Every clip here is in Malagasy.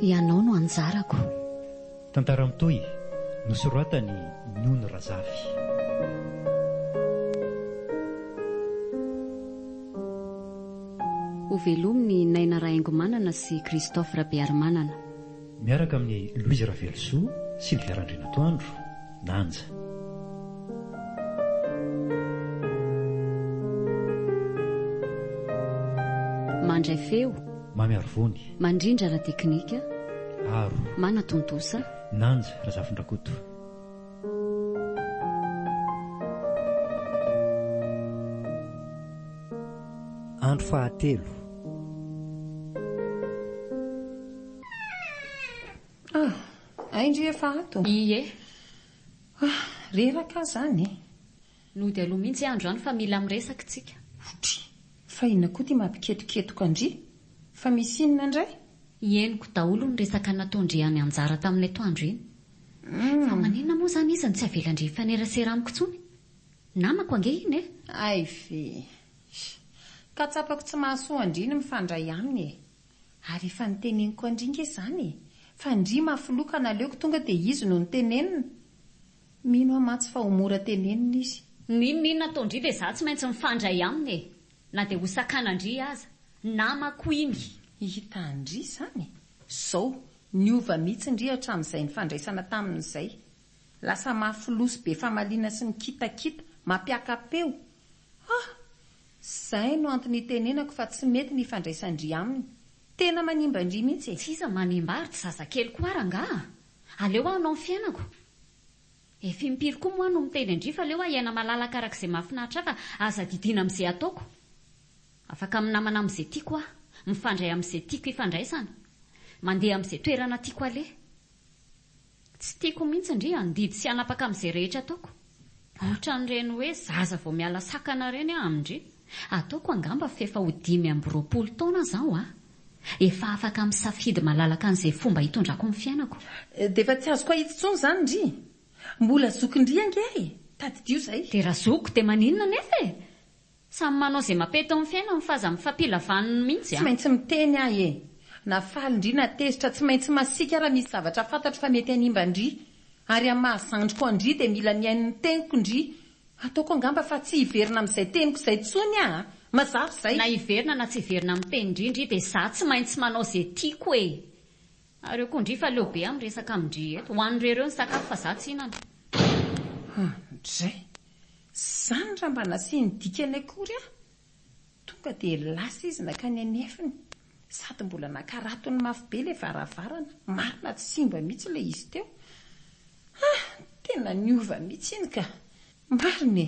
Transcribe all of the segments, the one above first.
Ianao no anjarako. Tantara mitohy, nosoratan'i Nony Razafy. Ho velomin'i Naina Rahaingomanana sy Christophe Rabearimanana. Miaraka amin'i Louise Ravelosoa, Sylvia Randrianatoandro, Nanja. Mandray feo. Mamy Arivony. Mandrindra ara-teknika. Aro. Manatontosa. Nanja Razafindrakoto. Andro fahatelo. Ah, hay ndry efa ato. Ie. Ah, reraka aho izany e. Nody aloha mihitsy andro any fa mila miresaka isika. Otry, fa inona koa ity mampiketoketoka an-dry? Fa misy inona indray? Henoko daholo ny resaka nataon-dry any anjara tamin'ny atoandro iny. Fa maninona moa izany izy no tsy avelan-dry hifanerasera amiko intsony? Namako ange iny e! Hay ve! Ka tsapako tsy mahasoa an-dry ny mifandray aminy e! Ary efa noteneniko an-dry nge izany e! Fa ndry mafy loha ka naleoko tonga dia izy no notenenina. Mino aho mantsy fa ho mora tenenina izy. N'inon'inona ataon-dry dia izaho tsy maintsy mifandray aminy e! Na dia hosakanan-dry aza. Namako iny. Hita an-dry izany? Izao, niova mihitsy ndry hatramin'izay nifandraisana taminy izay. Lasa mafy loha sy be famaliana sy mikitakita, mampiaka-peo. Hah! Izay no antony itenenako fa tsy mety ny hifandraisan-dry aminy. Tena manimba an-dry mihitsy e! Tsy iza manimba ary tsy zazakely koa ary angaha? Aleo aho hanao ny fiainako. Efa impiry koa moa aho no miteny an-dry fa aleo aho hiaina malalaka araka izay mahafinaritra ahy fa aza didiana amin'izay ataoko. Afaka minamana amin'izay tiako aho, mifandray amin'izay tiako hifandraisana, mandeha amin'izay toerana tiako aleha. Tsy tiako mihitsy ndry handidy sy hanapaka amin'izay rehetra ataoko. Ohatran'ireny hoe zaza vao miala sakana ireny aho amin-dry. Ataoko angamba f'efa ho dimy amby roapolo taona aho zao an! Efa afaka misafidy malalaka an'izay fomba hitondrako ny fiainako. Dia efa tsy azoko ahitsy intsony izany ndry. Mbola zokin-dry ange e! Tadidio izay. Dia raha zoky dia maninona anefa e! Samy manao ze mape tao am fiainany fa aza mifampila vaniny mintsy a. Tsy maintsy miteny aho e! Na faly ndry na tezitra tsy maintsy masiaka aho raha misy zavatra fantatro fa mety hanimba ndry! Ary am maha zandriko an ndry dia mila mihaino ny teniko ndry! Ataoko angamba fa tsy hiverina am zay teniko zay tsony aho a! Mazava izay! Na hiverina na tsy hiverina am teny ndry ndry dia za tsy maintsy manao ze tiako e! Ary eo koa ndry fa leo be am resaka am ndry eto! Ho an ndry reo ny sakafo fa za tsy hinana! An ndry! Zany raha mba nasiany dikany akory aho, tonga dia lasa izy nankany anefiny, sady mbola nakaratony mafy be ilay varavarana, marina tsy simba mihitsy ilay izy teo, ah! tena niova mihitsy iny ka! marina e!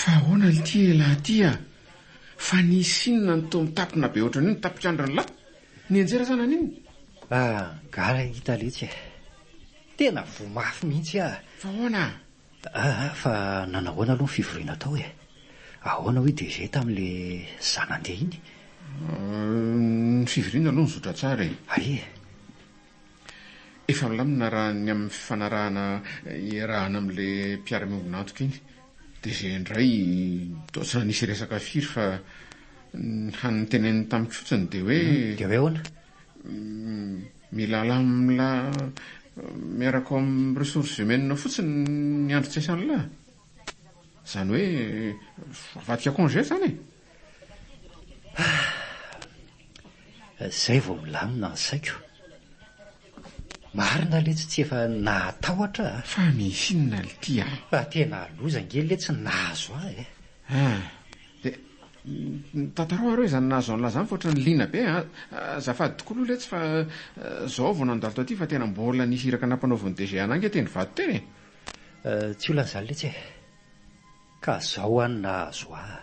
Fa ahoana ity elah ty ah? Fa nisy inona no toa mitapina be ohatran'io ny tapik'andron'ny lah? Nianjera sa naninona? Ah, gaga i Taletsy eh. Tena voa mafy mihitsy ah. Fa ahoana ah? Ah ah fa nanahoana aloha ny fivoriana tao e? Ahoana hoy DG tamin'ilay zana-ndeha iny? Ny fivoriana aloha nizotra tsara e. Aia e? Efa milamina raha ny amin'ny fifanarahana iarahana amin'ilay mpiara-miombon'antoka iny. DG indray toa tsy nanisy resaka firy fa ny hany noteneniny tamiko fotsiny dia hoe. Dia hoe ahoana? Milalà miaraka ao amin'ny ressources humaines fotsiny ny Andry Tsaisanla. Izany hoe avadika congé izany e! Ah! Izay vao milamina ny saiko. Marina letsy tsy efa nahatahotra ah! Fa misy inona lty ah? Fa tena loza ange letsy ny nahazo ahy eh! Ah! Dia tantarao ary hoe izany nahazo an'lah izany fa ohatran'ny liana be an! Azafady tokoa aloha letsy fa izao vao nandalo taty fa tena mbola nisy iraka nampanaovin'ny DG anah ange teny vato teny e! Tsy olana izany letsy e! Ka izao an nahazo ahy.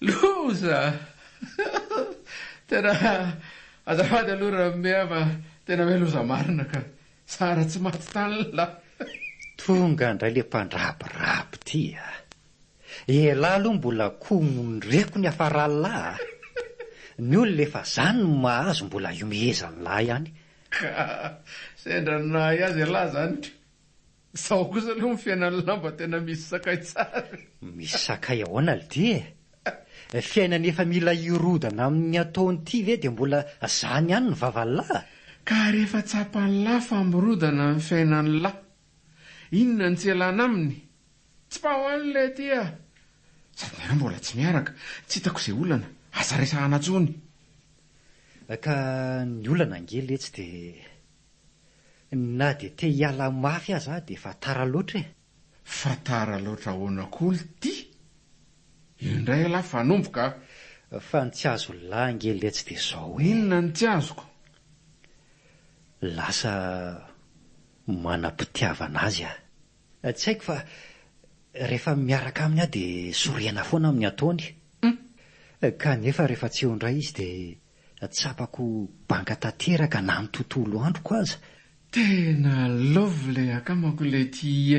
Loza! Tena azafady aloha Ramea fa tena hoe loza marina ka. Zara tsy maty tany la. Tonga indray le mpandrabiraby ty a. Elah aloha mbola komonireko ny afaralahy a! Ny olona efa zany no mahazo mbola iomehezan'ny lahy ihany. Ka sendra ny nahay azy elah zany ka! Zao kosa aloha ny fiainan'ny lahy mba tena misy sakay tsara e! Misy sakay ahoana lty e! Fiainana efa mila hirodana amin'ny ataony ity ve dia mbola zany ihany ny vavan'ny lahy a! Ka rehefa tsapan'ny lahy fa mirodana ny fiainan'ny lahy, inona no tsy elana aminy? Tsy mba ho any ilay aty ah. Sady ianao mbola tsy miaraka. Tsy hitako izay olana. Aza resahana intsony. Ka ny olana ange letsy dia na dia te hiala mafy aza aho dia efa tara loatra e. Fa tara loatra ahoana koa lty? Io indray aloha fanomboka ah. Fa ny tsy azon'lah ange letsy dia izao e. Inona no tsy azoko? Lasa manam-pitiavana azy ah. Tsy haiko fa rehefa miaraka aminy aho dia sorena foana amin'ny ataony kanefa rehefa tsy eo indray izy dia tsapako banga tanteraka na ny tontolo androko aza. Tena love ilay akamako Letty e!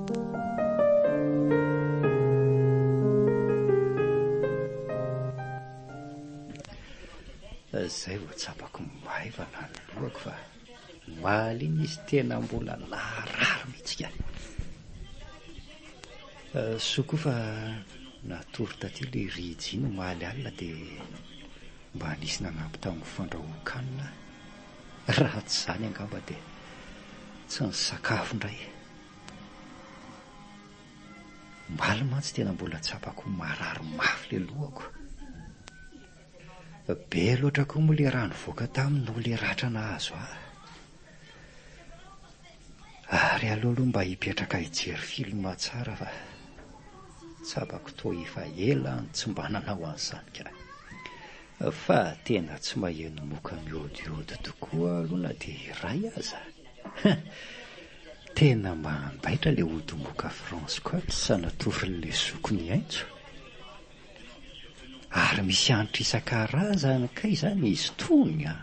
Izay vao tsapako maivana ny lohako fa mahaliana izy tena mbola naharary mihitsy ka. Eh, soa koa fa natory taty ilay Regina omaly alina dia mba nisy nanampy tamin'ny fandrahoan-kanina aho. Raha tsy izany angamba dia tsy nisakafo indray. Omaly mantsy tena mbola tsapako ho marary mafy ilay lohako. Be loatra koa moa ilay rà nivoaka taminy noho ilay ratra nahazo ahy. Ary aleo aloha mba hipetraka hijery film tsara fa tsapako toa efa ela aho no tsy mba nanao an'izany ka. Fa tena tsy maheno moka mihodihody tokoa aho aloha na dia iray aza. Tena mandaitra le odongoka France Côte sanatorin'le zoky mihaintso. Ary misy hanitra isan-karazany kay zany izy tony a!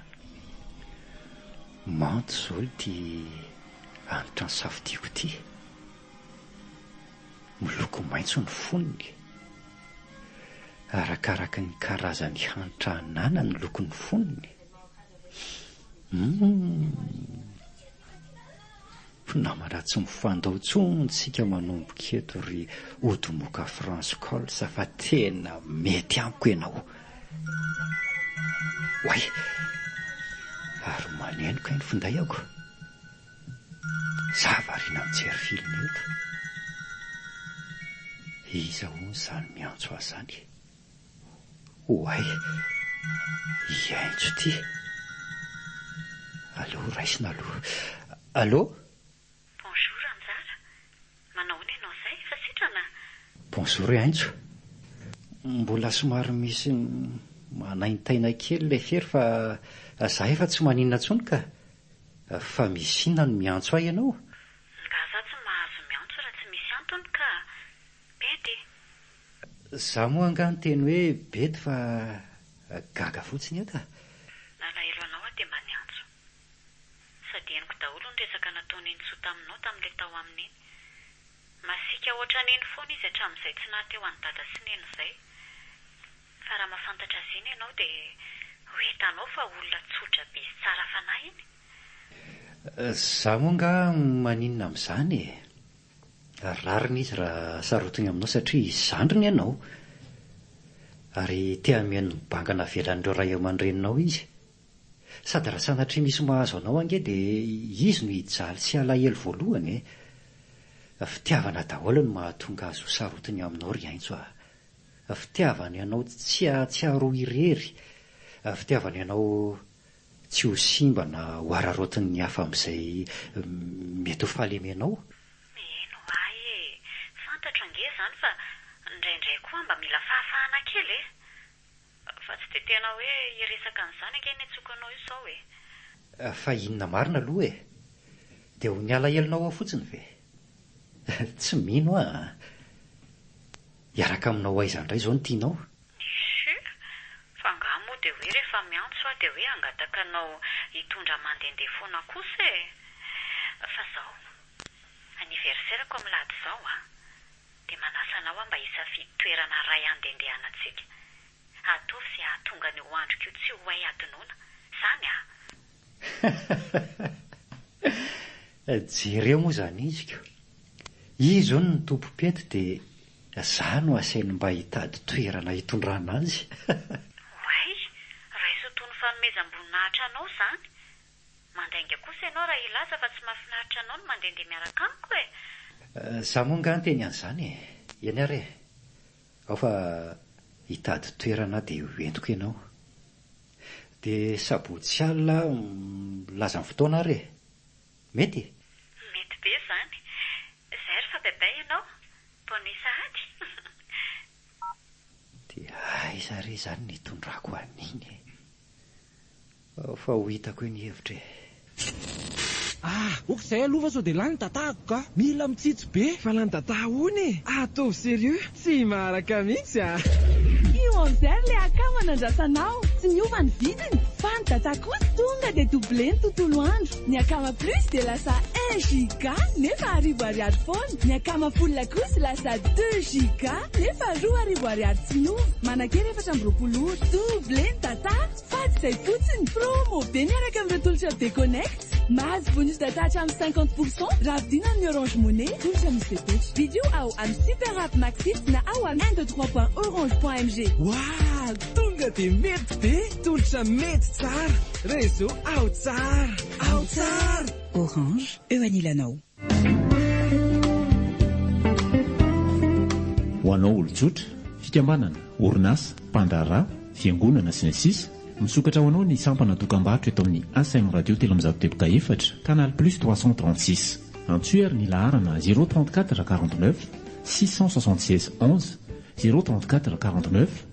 Manto zao ity hanitra nisafidiako ity. Miloko maintso ny fonony. Arakaraky ny karazany hanitra ananany lokony fonony. Mpinamana tsy mifandao tsony tsika manomboka eto ry Odomoka France Cols fa tena mety amiko enao. Oay! Ary maneno kay ny findaiako. Za variana mijery film eto. Iza hono zany miantso ahy zany e? Oay! Hiaintso ty! Aleo raisina aloha. Allô? Bonjour Ranjara! Manao ahoana ianao izay? Efa sitrana? Bonjour i Aintso. Mbola somary misy manaintaina kely ilay fery fa za efa tsy maninona intsony ka! Fa misy inona no miantso ahy ianao? Nga za tsy mahazo miantso raha tsy misy antony ka! Pede! Za moa angaha niteny hoe bety fa gaga fotsiny eto a! Nalahelo anao aho dia mba niantso. Sady henoko daholo ny resaka nataon'i Nenisoa taminao tamin'ilay tao aminy iny. Masiaka hoatran'iny foana izy hatramin'izay tsy naha te ho an'i Dada sy Neny izay. Fa raha mahafantatra azy iny ianao dia ho hitanao fa olona tsotra be sy tsara fanahy iny. Za moa angaha maninona amin'izany e! ary rariny izy raha sarotiny aminao satria izy zandriny ianao ary te hameno ny banga navelan'ireo ray aman-dreninao izy. Sady raha sanatria misy mahazo anao ange dia izy no hijaly sy halahelo voalohany e! Fitiavana daholo no mahatonga azy ho sarotiny aminao ry Aintso a! Fitiavany anao tsy hahatsiaro ho irery, fitiavany anao Tsy ho simba na ho araraotin' ny hafa amin' izay mety ho fahalemenao. Mihaino ahy e! Fantatro ange izany fa indraindray koa mba mila fahafahana kely e! Fa tsy dia tena hoe hiresaka an'izany ange ny antsoiko anao io izao e! Fa inona marina aloha e! Dia ho ny alahelonao ao fotsiny ve? Tsy mino aho an! Hiaraka aminao aiza indray izao no tianao? Chut! Fa angaha moa dia hoe rehefa miantso aho dia hoe hangataka anao hitondra mandehandeha foana kosa e! Fa izao, anniversaire-ko amin'ny lahady izao an! Dia manasa anao aho mba hisafidy toerana iray handendehanantsika. Ataovy izay hahatonga an'io androko io tsy ho hay hadinoina. Izany an! Jereo moa izany iziko. Izy hono ny tompom-pety dia Za no aseny mba hitady toerana hitondrana azy. Oay, raiso toy ny fanomezam-boninahitra anao izany. Mandainga kosa ianao raha hilaza fa tsy mahafinaritra anao ny mandehandeha miaraka amiko e! Za moa angaha niteny an'izany e! Eny ary e! Ao fa hitady toerana aho dia hoentiko ianao. Dia sabotsy alina aho milaza ny fotoana ary e! Mety e! Mety be izany! Izay ary fa baibai ianao! Bonne sahady! Dia aiza re izany ny hitondrako an'iny e! Ao fa ho hitako eny hevitra e! Ah! Oka izay aloha fa sao dia lany ny tatahako ka! Mila mitsitsy. Be valany dadah hono e! Ataovy sérieux! Tsy maharaka mihitsy a! Io Enzer le akama nandrasanao, tsy niova ny vidiny, fa ny data kosa tonga dia doublé ny tontolo andro, ny akama plus dia lasa un giga nefa arivo ariary foana, ny akama full kosa lasa deux giga nefa roa arivo ariary tsy miova, manankery efatra amby roapolo ora, doublé ny data, fady izay fotsiny, promo be miaraka amin'ireo tolotra be connect. Mahazo bonus data hatramin'ny cinquante pour cent raha vidiana amin'ny Orange Money, tolotra misy fepetra. Vidio ao amin'ny Super App Maxit na ao amin'ny un deux trois point orange point mg. Waww! Tonga dia mety be! Tolotra mety tsara! Réseau ao tsara! Ao tsara! Orange, eo anilanao. Ho anao olon-tsotra, fikambanana, orinasa, mpandraharaha, fiangonana, sy ny sisa Misokatra ho anao ny sampana dokambarotra eto amin'ny ACM Radio telo amby zato teboka efatra, canal plus trois cent trente six. Antsoy ary ny laharana zéro trente quatre quarante neuf six cent soixante seize onze, zéro trente quatre quarante neuf.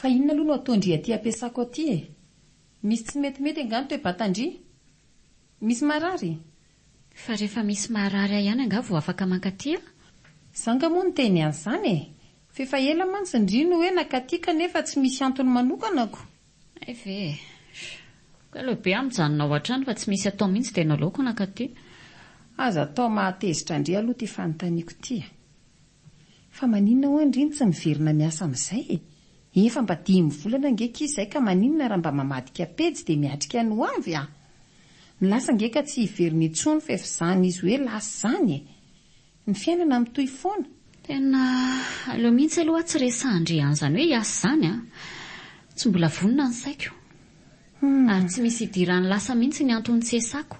Fa inona aloha no ataon-dry aty ampiasako aty e? Misy tsy metimety angaha ny toe-batan-dry? Misy marary? Fa rehefa misy marary ahy ihany angaha vao afaka mankaty aho? Za angaha moa niteny an'izany e! F'efa ela mantsy ndry no hoe nankaty kanefa tsy misy antony manokanako. Hay ve e! Ko aleo be aho mijanona ao an-trano fa tsy misy atao mihitsy dia nalaoko nankaty. Aza atao mahatezitra an-dry aloha ity fanontaniako ity a! Fa maninona ho'a an-dry no tsy miverina miasa amin'izay e! Efa mba dimy volana ange akia izay ka maninona raha mba mamadika pejy dia miatrika ny ho avy a! Ny lasa ange ka tsy hiverina intsony fa efa izany izy hoe lasa izany e! Ny fiainana mitohy foana. Tena aleo mihitsy aloha tsy resahan-dry an'izany hoe hiasa izany an! Tsy mbola vonona ny saiko. Ary tsy misy hidirany lasa mihitsy ny anton'ny tsy hiasako.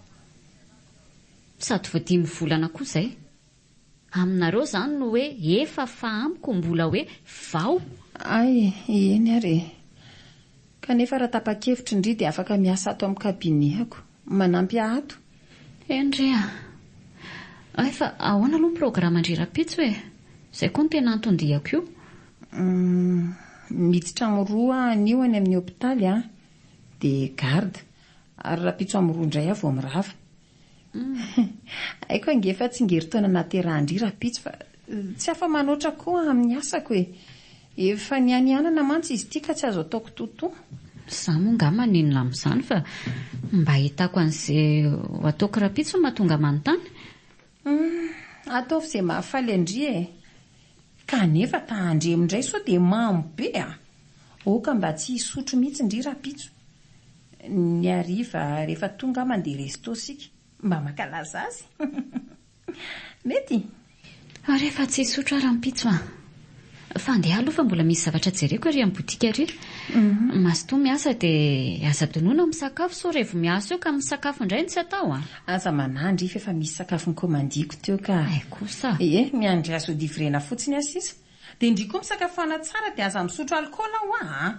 Sady vao dimy volana koa izay. Aminareo izany no hoe efa fa amiko mbola hoe vao. Ay, eny ary e! Kanefa raha tapa-kevitry ndry dia afaka miasa ato amin'ny kabinehako. Manampy ahy ato. Hendry a! Hay fa ahoana aloha ny programan-dry Rapitso e! Izay koa no tena anton-diako io. Humm. Miditra amin'ny roa anio any amin'ny hopitaly aho dia garde ary Rapitso amin'ny roa indray aho vao mirava. Haiko ange fa tsingerin-taona nahaterahan-dry rahampitso fa tsy afa-manoatra koa amin'ny asako e! Efa nianianana mantsy izy ity ka tsy azo ataoko totoa. Izaho moa angaha maninona amin'izany fa mba ahitako an'izay ho ataoko rahampitso no mahatonga manontany? Ataovy izay mahafaly an-dry e! Kanefa tahan-dry indray sao dia mamo be a! Aoka mba tsy hisotro mihitsy ndry rahampitso. Ny hariva rehefa tonga mandeha resto isika mba mankalaza azy. Mety. Ary efa tsy hisotro aho rahampitso an! Fa andeha aloha fa mbola misy zavatra jereko ery amin'ny botika ery. Mazotoa miasa dia aza donona misakafo sao revo miasa eo ka misakafo indray no tsy atao an! Aza manahy ndry fa efa misy sakafo nikomandiako teo ka. Hay kosa. Ie, miandry azy ho livrena fotsiny aho sisa. Dia ndry koa misakafoana tsara dia aza misotro alikaola hoa an!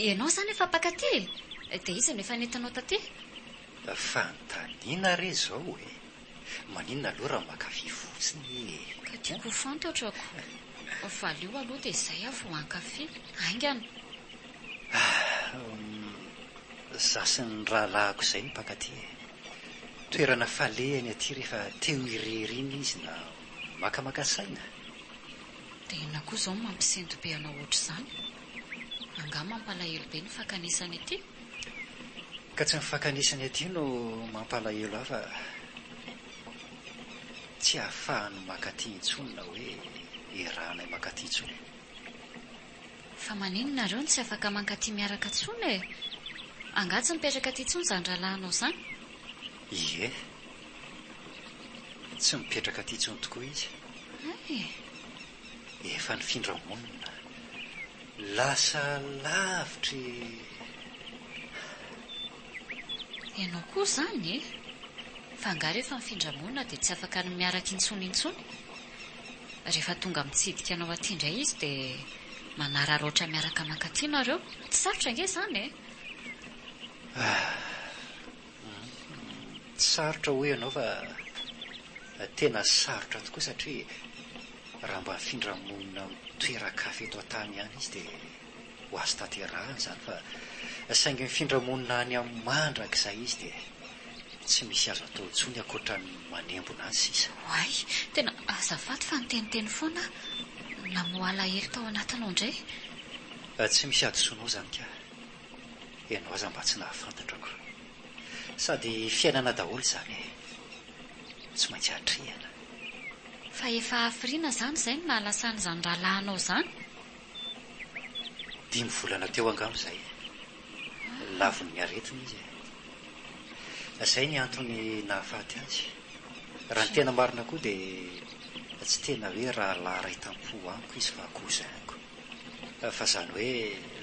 Ianao izany efa mpakaty e! Dia iza no efa nentinao taty? Fanontaniana re izao e! Maninona aloha raha mankafy fotsiny e! Ka tiako ho fantatrako. Valio aloha dia izay aho vao hankafy. Haingana. Hum. Za sy ny rahalahiko izay no mpankaty e. Toerana falehany aty rehefa teo irery iny izy na makamaka saina. Dia inona koa izao no mampisento be anao ohatr'izany? Angaha mampalahelo be ny fakanesany aty? Ka tsy ny fakan'isany aty no mampalahelo ahy fa tsy ahafahan'ny makaty intsony na hoe iarahanay makaty intsony e. Fa maninn nareo no tsy afaka mankaty miaraka tsony e? Angaha tsy mipetraka aty tsony zany rahalahinao zany? Ie. Tsy mipetraka aty tsony tokoa izy. Hay e. efa nifindra monina, lasa lavitry. Ianao koa izany e! Fa angaha rehefa mifindra monina dia tsy afaka ny miaraka intsony intsony? Rehefa tonga mitsidika anao aty indray izy dia manararaotra miaraka mankaty nareo? Tsy sarotra ange izany e! Ah! Tsy sarotra hoy ianao fa tena sarotra tokoa satria raha mba hifindra monina amin'ny toeran-kafa eto an-tany ihany izy dia ho azo tanterahina izany fa saingy mifindra monina any amin'ny mandrakizay izy dia tsy misy azo atao intsony ankoatra ny manembona azy sisa. Oay, tena azafady fa niteniteny foana aho. Namoha alahelo tao anatinao indray. Tsy misy hadisoanao izany kah. Ianao aza mba tsy nahafantatrako. Sady fiainana daholo izany e. Tsy maintsy hatrehina. Fa efa hafiriana izany izay no nahalasa an'izany rahalahy anao izany? Dimy volana teo angamba izay. Lavon'ny aretina izy e. Izay ny antony nahafaty azy. Raha ny tena marina koa dia tsy tena hoe rahalahy iray tam-po amiko izy fa cousin-ko. Fa zany hoe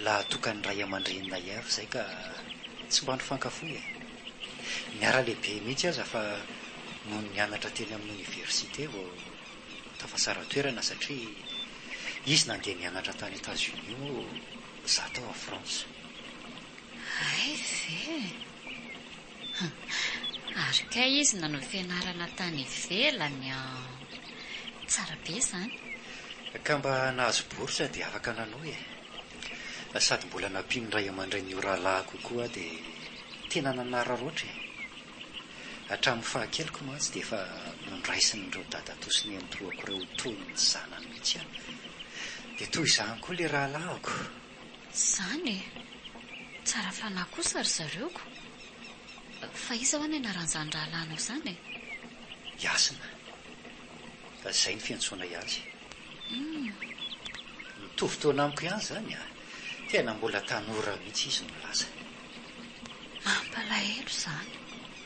lahatokan'ny ray aman-dreninay ihany ry zay ka tsy mba nifankafoy e! Niara lehibe mihitsy aza fa nony nianatra teny amin'ny oniversite vao tafasara toerana satria izy nandeha nianatra tany Etats Unis moa za tao à France. Hay ve! Ary kay izy nanao fianarana tany ivelany an! Tsara be izany. Ka mba nahazo bourse dia afaka nanohy e! Sady mbola nampian'ny ray aman-drenin'io rahalahiko koa aho dia tena nanararaotra e! Hatramin'ny fahakeliko mantsy dia efa nondraisin'ireo dadatoa sy nenitoako ireo toy ny zanany mihitsy aho. Dia toy izany koa ilay rahalahiko. Zany e! Tsara fanahy kosa ry zareo ko! Fa iza hoa ny anaran'izany rahalahinao zany e? Yasna. Fa zay ny fiantsoanay azy. Humm. Mitovy taona amiko ihany zany a! Tena mbola tanora mihitsy izy no laza. Mampalahelo izany.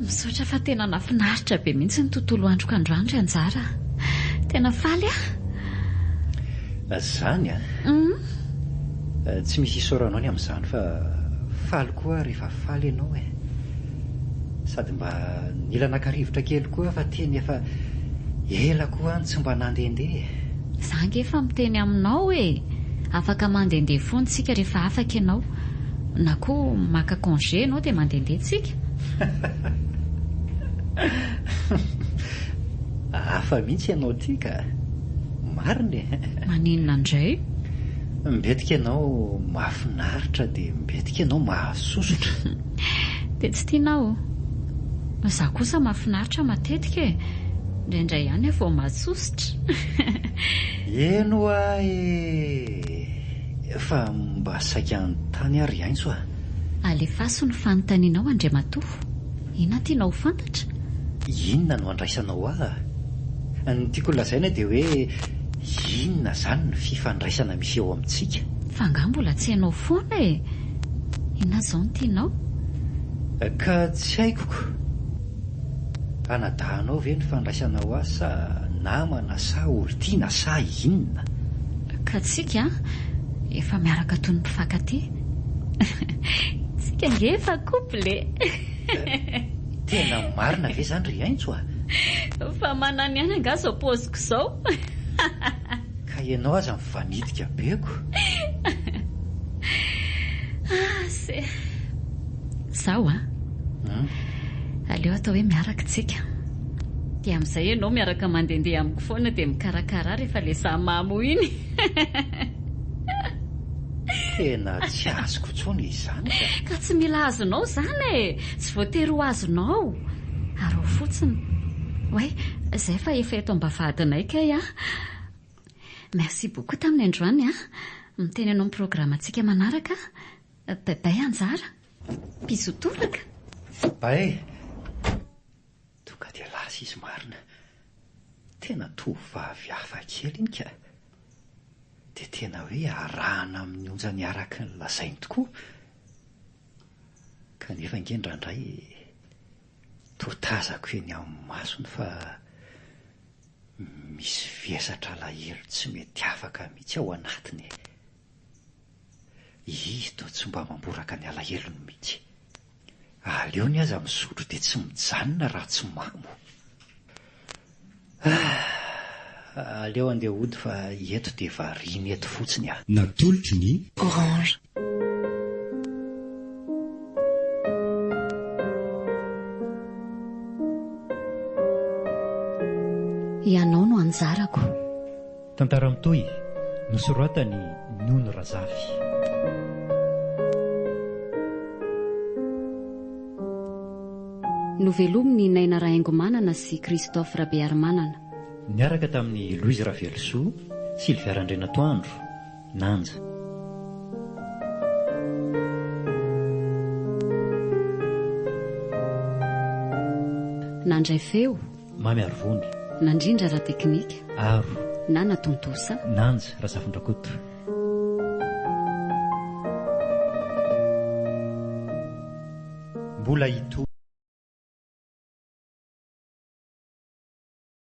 Misaotra fa tena nafinaritra be mihitsy ny tontolo androko androany ry anjara. Tena faly aho. Zany an. Tsy misy isaoranao ny amin'izany fa faly koa. koa rehefa faly ianao e! Sady mba nila naka rivotra kely koa aho fa teny efa ela koa any tsy mba nandehandeha e! Za ange efa miteny aminao e! Afaka mandehandeha foana tsika rehefa afaka ianao, na koa maka congé ianao dia mandehandeha tsika! Hafa mihitsy ianao ity ka! Marina e! Maninona indray? Mbetika ianao mahafinaritra dia. Betika ianao mahasosotra. Dia tsy tianao? Izaho kosa mahafinaritra matetika e! Indraindray ihany aho vao mahasosotra. Eny hoa e! Fa mba saika hanontany ary aintso a! Alefaso ny fanontanianao Andriamatoa. Inona tianao ho fantatra? Inona no andraisanao ahy? Ny tiako lazaina dia hoe. Inona zany ny fifandraisana misy eo amintsika? Fa angaha mbola tsy hainao foana e! Inona izao no tianao? Ka tsy haiko ko! Anadahinao ve ny fandraisana ho ahy sa namana sa olon-tiana sa inona? Ka tsika efa miaraka toy ny mpifankatia. Tsika ange efa couple e! Tena marina ve zany ry Aintso a? Fa manana ihany angaha zao paozy. K'zao. Ka ianao aza mifanitika be ko. Ah se. Zaho a. Hum. Aleo atao hoe miaraka tsika. Dia amin'izay ianao miaraka mandehandeha amiko foana dia mikarakara ahy rehefa le za mamo iny. Tena tsy azoko intsony izany ka. Ka tsy mila azonao izany e. Tsy voatery ho azonao. Araho fotsiny. Oay, izay fa efa eto am-bavahadinay kay an! Merci beaucoup taminy androany an! Miteny anao amin'ny programantsika manaraka an! Baybay Anjara! Bisous toraka! Bae! Tonga dia lasa izy marina. Tena tovovavy hafa kely iny ka! Dia tena hoe arahana amin'ny onjany araka ny lazainy tokoa. Kanefa ange indraindray toa tazako eny amin'ny masony fa misy vesatra alahelo tsy mety afaka mihitsy ao anatiny e! Izy toa tsy mba mamboraka ny alahelony mihitsy. Aleony aza misotro dia tsy mijanona raha tsy mamo. Ah! Aleo andeha hody fa eto dia variana eto fotsiny ah. Natolotry ny. Orange. Ianao no anjarako. Tantara mitohy, nosoratan'i Nono Razafy. Novelomin'i Naina Rahaingomanana sy Christophe Rabearimanana. Niaraka tamin'i Louise Ravelosoa, Sylvia Randrianatoandro, Nanja. Nandray feo. Mamy ary Vony. Nandrindra Ratekinika. Aro. Nana Tontosa. Nanja Razafindrakoto. Mbola hitohy.